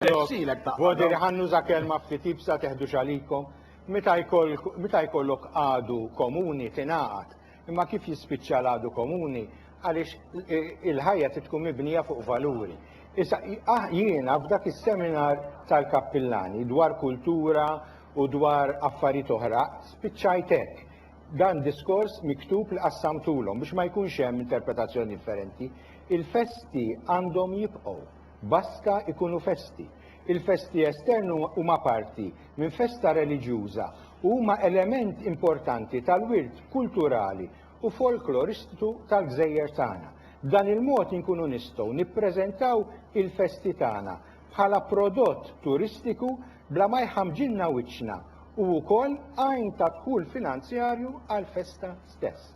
Godi li ħa nuża kelma ftit iebsa teħdux għalikom. Meta jkollok għadu komuni tingħaqad, imma kif jispiċċa l-għadu komuni għaliex il-ħajja trid tkun mibnija fuq valuri. Issa jiena f'dak is-seminar tal-kappillani dwar kultura u dwar affarijiet oħra spiċċajt hekk. Dan diskors miktub li qassamtulhom biex ma jkunx hemm interpretazzjoni differenti. Il-festi għandhom jibqgħu. Baska ikunu festi. Il-festi esterni huma parti minn festa reliġjuża u huma element importanti tal-wirt kulturali u folkloristitu tal-gżejjer tagħna. B'dan il-mod inkunu nistgħu nippreżentaw il-festi tagħna bħala prodott turistiku bla ma jħammġilna wiċċna u wkoll għajn ta' dħul finanzjarju għall-festa stess.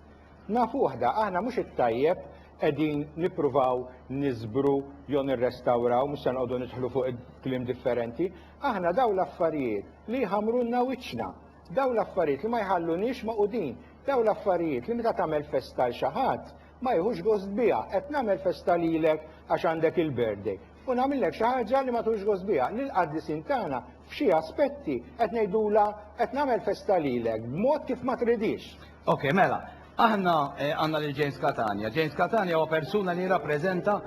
Naf uħda, aħna mhux it-tajjeb qegħdin nippruvaw niżbru jew nirrestawraw, mhux se noqogħdu nidħlu fuq il-kliem differenti, aħna dawn l-affarijiet li jħammrulna wiċċna, dawn l-affarijiet li ma jħalluniex magħqudin, dawn l-affarijiet li meta tagħmel festa għal xi ħadd ma jieħux gost biha, qed nagħmel festa lilek għax għandek il-birthday. u nagħmillek xi ħaġa li ma tħux gost biha. Lill-qaddisin tagħna f'xi aspetti qed ngħidulha qed nagħmel festa lilek b'mod kif ma tridix. Ok, mela, aħna eh, għandna lil James Catania. James Catania huwa persuna li jirrappreżenta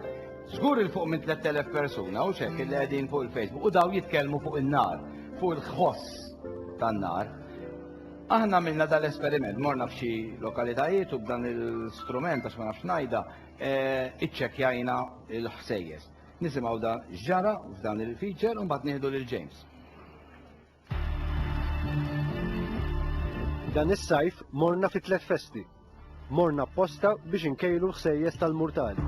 żgur il fuq minn 3000 persuna u xek li qegħdin fuq il-Facebook u daw jitkellmu fuq in-nar, fuq il-ħoss tan-nar. Aħna minna dal-esperiment, morna f'xi lokalitajiet u b'dan il-strument għax ma nafx ngħidha, Iċċekkjajna l-ħsejjes. Nisimgħu da x'ġara f'dan il-feature u mbagħad nieħdu lil James. Dan is-sajf morna fi tliet festi. Morna apposta biex inkejlu l-ħsejjes tal-murtali.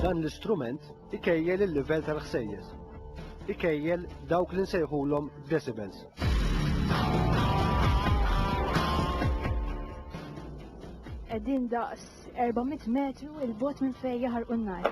Dan l-istrument Ikejjel il-livell tal-ħsejjes. Ikejjel dawk li nsejħulhom decibels. Qegħdin daqs 400 metru il-bot minn fejn jaħarqu n-nar.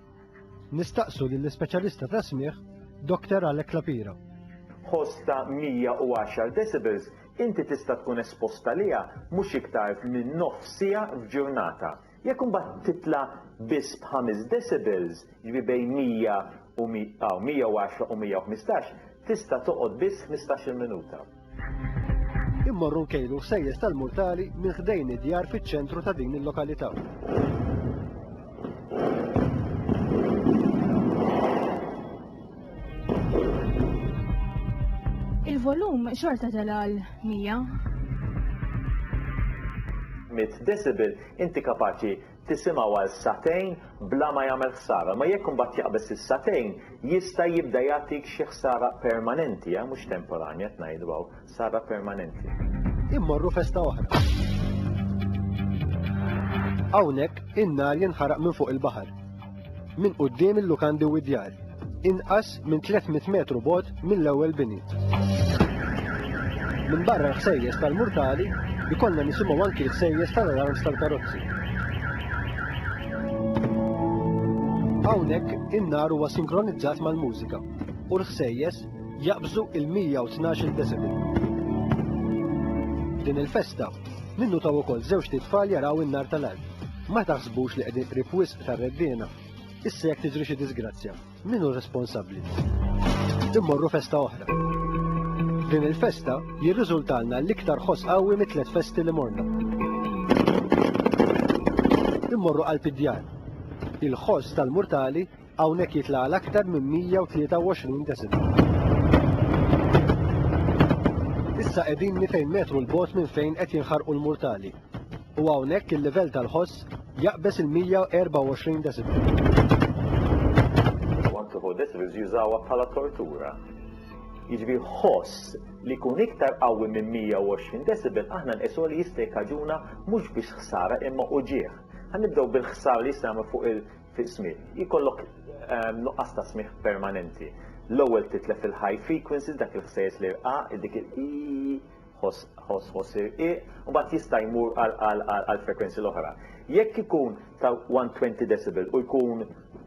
Nistaqsu lill-ispeċjalista tas-smigħ Doktor Alec La Pira. Ħoss ta' 110 decibels inti tista' tkun espost għaliha mhux iktar minn nofs siegħa f'ġurnata. Jekk imbagħad titla' biss b'ħames decibels, jiġifieri bejn 100 u 110 u 115, tista' toqgħod biss ħmistax-il minuta. Immorru nkejlu sejjes tal-murtali minn ħdejn id-djar fiċ-ċentru ta' din il-lokalità. Il-volum xorta tal-għal 100. 100 decibel, inti kapaċi tisimgħu għal sagħtejn bla ma jagħmel ħsara, imma jekk imbagħad jaqbeż is-sagħtejn jista' jibda jagħtik xi ħsara permanenti, eh, mhux temporanja qed ngħidu hawn, ħsara permanenti. Immorru festa oħra. Hawnhekk in-nar jinħaraq minn fuq il-baħar. minn quddiem il-lukandi u d-djar, inqas minn 300 metru bogħod mill-ewwel bini. Minn barra l-ħsejjes tal-murtali, ikollna nisimgħu anki l-ħsejjes tal-alarms tal-karozzi. Hawnhekk in-nar huwa sinkronizzat mal-mużika u l-ħsejjes jaqbżu il-112 decibel. Din il-festa, minnu taw ukoll żewġ titfal jaraw in-nar tal-art. Ma taħsbux li qegħdin qrib tar-Reddiena. Issa jekk tiġri xi diżgrazzja, min hu responsabbli? Immorru festa oħra. Din il-festa jirriżultalna l-iktar ħoss qawwi mit-tliet festi li morna. Immorru qalb id-djar. Il-ħoss tal-murtali hawnhekk jitla' għal aktar minn 123 deċibel. Issa qegħdinni fejn metru l-bogħod minn fejn qed jinħarqu l-murtali. u hawnhekk il-livell tal-ħoss jaqbeż il-124 decibel. One to four decibels jużawha bħala tortura. Jiġifieri ħoss li jkun iktar qawwi minn 120 decibel aħna nqisuha li jista' jikkaġuna mhux biss ħsara imma uġigħ. Ħanibdew bil-ħsara li jista' jagħmel fuq il-smigħ. Jkollok ehm, nuqqas ta' smigħ permanenti. L-ewwel titlef il-high frequencies dak il-ħsejjes li rqa' dik il ħoss ħoss ħoss irqiq u mbagħad jista' jmur għal għal għal għal frekwenzi l-oħra. Jekk ikun ta' 120 decibel u jkun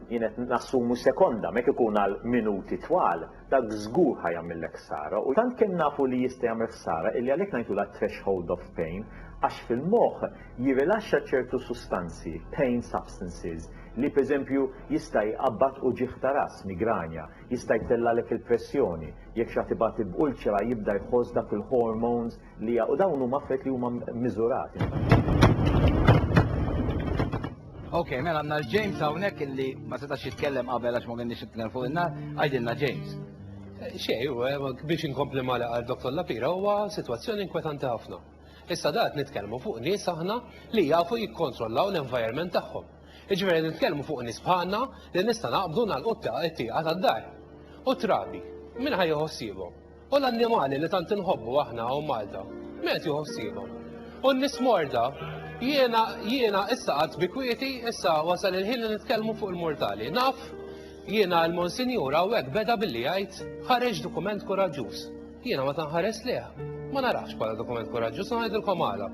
jien qed nassumu sekonda, mek ikun għal minuti twal, dak żgur ħa jagħmillek ħsara u tant kemm nafu li jista' jagħmel ħsara illi għalhekk ngħidulha threshold of pain għax fil-moħħ jirrilaxxa ċertu sustanzi, pain substances, li pereżempju jista' jqabbad uġigħ ta' ras, migranja, Jista' jtellgħalek il-pressjoni. Jekk xi ħadd ibati b'ulċera jibda jħoss dak il-hormones li ja u dawn huma affarijiet li huma miżurati. Ok, mela għanna l-James għawnek illi ma setax jitkellem qabel għax ma għennix jitkellem fuq inna, għajdinna James. Eh, xej, eh, biex inkompli mala għal Dr. Lapira huwa situazzjoni inkwetanti ħafna. Issa dat nitkellmu fuq nies aħna li jafu jikkontrollaw l-environment tagħhom. Jiġifieri qed nitkellmu fuq nies bħalna li nista' naqbdu nagħlqu t-tieqa tad-dar. U t-trabi, min ħa jieħu ħsiebhom? U l-annimali li tant inħobbu aħna hawn Malta, min qed jieħu ħsiebhom? U n-nies morda? Jiena, jiena issa qgħadt bi kwieti, issa wasal il-ħin li nitkellmu fuq il-mortali. Naf, jiena l-Monsinjur hawnhekk beda billi jgħid ħareġ dokument kuraġġuż. Jiena meta nħares lejh, ma narahx bħala dokument kuraġġuż u ngħidilkom għala.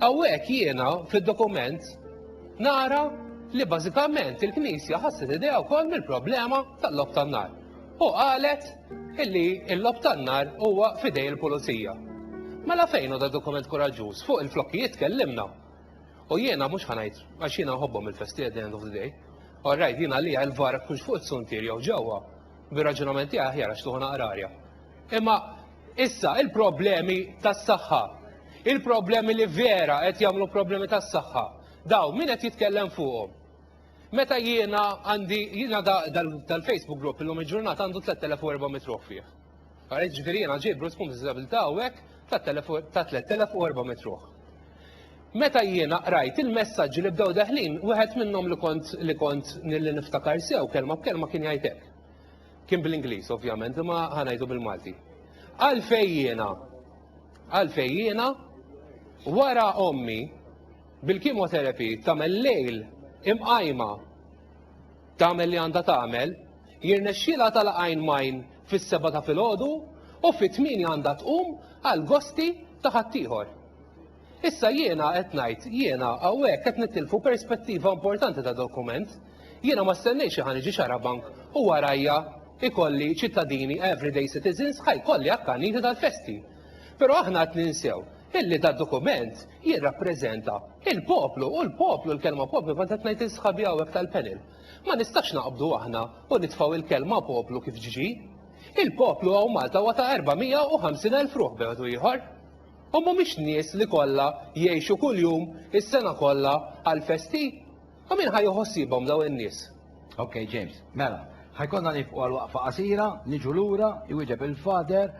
Hawnhekk jiena fid-dokument nara li bażikament il-Knisja ħasset idea wkoll mill-problema tal-lob tan-nar. U qalet illi l-lob tan-nar huwa fidej il-pulizija. Mela fejn da dokument kuraġġuż fuq il-flokkijiet tkellimna. U jiena mhux ħanajt għax jiena nħobbhom il-festi at the end of the day. Orrajt jiena li l-vara kux fuq it-suntier jew ġewwa. Bir-raġunament tiegħi ħjar għax tuħu naqrarja. Imma issa il-problemi tas-saħħa, il-problemi li vera qed jagħmlu problemi tas-saħħa, daw min qed jitkellem fuqhom? Meta jiena għandi jiena dal-Facebook group illum il-ġurnata għandu 3400 ruħ fih. Għalhekk ġifieri jiena ġej Bruce Kum Disabilità hawnhekk ta' 3400 ruħ. Meta jiena qrajt il-messaġġi li bdew daħlin, wieħed minnhom li kont li kont niftakar sew kelma b'kelma kien jgħid hekk. Kien bl-Ingliż ovvjament, imma ħa ngħidu bil-Malti. Għalfejn jiena, għalfejn jiena, wara ommi bil-kimoterapi tagħmel lejl imqajma tagħmel li għandha tagħmel, jirnexxilha tal-għajn majn fis-seba ta' filgħodu u fit-tmien għandha tqum għal gosti ta' ħaddieħor. Issa jiena qed ngħid, jiena hawnhekk qed nittilfu perspettiva importanti ta' dokument. Jiena ma stennejtx li ħa niġi xarabank u warajja ikolli ċittadini everyday citizens ħa jkolli akkaniti tal-festi. Però aħna qed ninsew illi dad-dokument jirrappreżenta il-poplu u l-poplu, l-kelma poplu kont qed ngħid lil sħabi hawnhekk tal-panel. Ma nistax naqbdu aħna u nitfgħu il-kelma poplu kif ġġi. Il-poplu hawn Malta huwa ta' 450,000 ruħ b'mod u ieħor. U mhumiex nies li kollha jgħixu kuljum is-sena kollha għall-festi? U min ħa jħossibhom dawn in-nies? Ok James, mela, ħa jkollna nieqfu għal waqfa qasira, niġu lura, iwieġeb il-Father,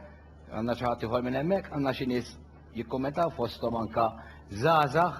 għandna xi ħadd ieħor minn hemmhekk, għandna xi nies jikkummentaw fosthom anke żgħażagħ.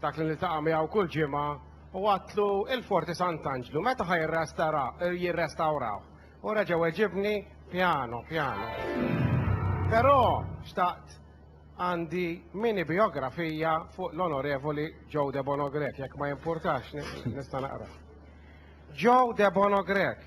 Dak li niltaqa' miegħu kull ġimgħa u għadtlu il-Forti Sant'Anġlu meta ħa jirrestara jirrestawrawh u reġa' weġibni pjano pjano. Però xtaqt għandi mini bijografija fuq l-Onorevoli Joe Debono Grech jekk ma jimpurtax nista' naqrah. Joe Debono Grech